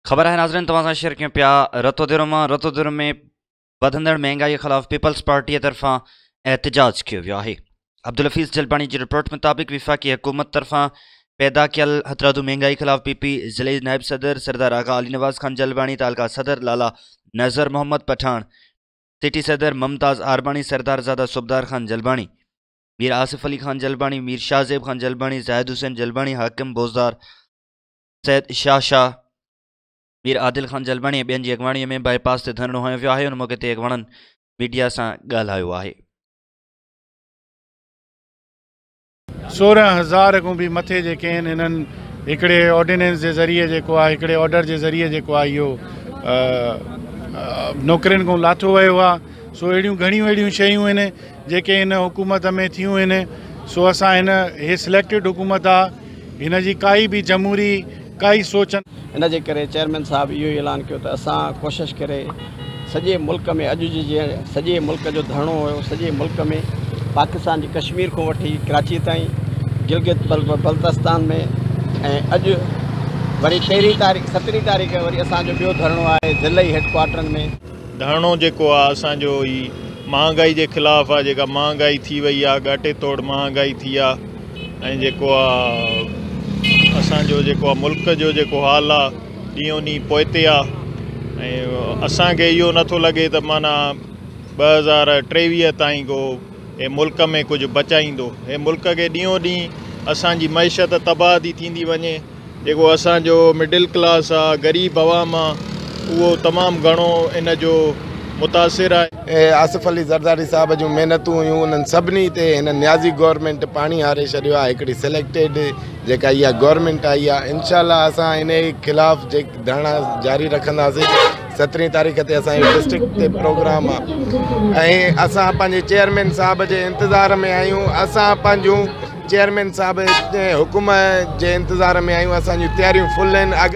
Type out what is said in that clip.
خبر آهي ناظرين توهان سان شيئر ڪيون پيا رتوديرو مان رتوديرو ۾ وڌندڙ مهنگائي خلاف پيپلز پارٽي طرفان احتجاج ڪيو ويو آهي عبدالحفيظ جلباڻي جي رپورٽ مطابق وفاقي حڪومت طرفان پيدا ڪيل هٿرادو مهنگائي خلاف پي پي ضلعي نائب صدر سردار آغا علي نواز خان جلباڻي تعلقه صدر لالا نظر محمد پٺاڻ سٽي صدر ممتاز آرباڻي سردار زاده صوبدار خان جلباڻي مير آصف علي خان جلباڻي مير شاهزيب خان جلباڻي زاهد حسين جلباڻي حاڪم بوزدار سيد شاهه شاهه، مير عادل خان جلبڻي ۽ ٻين جي اڳواڻي ۾ بائي پاس تي ڌرڻو هنيو ويو آهي، ان موقعي تي اڳواڻن ميڊيا سان ڳالهايو آهي. سورهن هزار کان به مٿي جي ڪين هنن هڪڙي آرڊيننس جي ذريعي جيڪو آ هڪڙي آرڊر جي ذريعي جيڪو آ اهو نوڪرين کان لاٿو ويو آ سو اهڙيون گهڻيون اهڙيون شيون هن جيڪي هن حڪومت ۾ ٿيون هن سو اسان هن هي سليڪٽيڊ حڪومت آ هن جي ڪائي به جمهوري ڪائي سوچ نه. ان جي ڪري چيئرمين صاحب اهو ئي اعلان ڪيو ته اسان ڪوشش ڪري سڄي ملڪ ۾ اڄ جي جيئن سڄي ملڪ جو ڌرڻو هيو سڄي ملڪ ۾ پاڪستان جي ڪشمير کون وٺي ڪراچي تائين گلگت بلتستان ۾ ۽ اڄ وري پهرين تاريخ سترهين تاريخ وري اسان جو ٻيو ڌرڻو آهي ضلعي هيڊ ڪوارٽرن ۾. ڌرڻو جيڪو آهي اسان جو هي مهانگائي جي خلاف آهي جيڪا مهانگائي ٿي وئي آهي ڳاٽي توڙ مهانگائي ٿي آهي. ۽ جيڪو آ اسان جو جيڪو آ ملڪ جو جيڪو حال آ ڏينهون ڏينهن پوئتي آ ۽ اسان کي اهو نٿو لڳي ته معنيٰ ٻه هزار ٽيويهه تائين ڪو هي ملڪ ۾ ڪجهه بچائيندو هي ملڪ کي ڏينهون ڏينهن اسان جي معيشت تباهه ٿي ٿيندي وڃي جيڪو اسان جو مڊل ڪلاس آ، غريب عوام آ، اهو تمام گهڻو ان جو متاثر آهي. اهي آصف علي زرداري صاحب جون محنتون هيون، انهن سڀني تي هن نيازي گورنمينٽ پاڻي هاري ڇڏيو آ، هڪڙي سليڪٽيڊ جيڪا اها گورنمينٽ آئي آ، انشاء الله اسان انهي خلاف ڌرڻا جاري رکنداسين، سترهين تاريخ تي اسان جو ڊسٽرڪٽ تي پروگرام آ ۽ اسان پنهنجي چيئرمين صاحب جي انتظار ۾ آهيون، اسان پنهنجون. چيئرمين صاحب حڪم جي انتظار ۾ آهيون اسان جون تياريون فل آهن.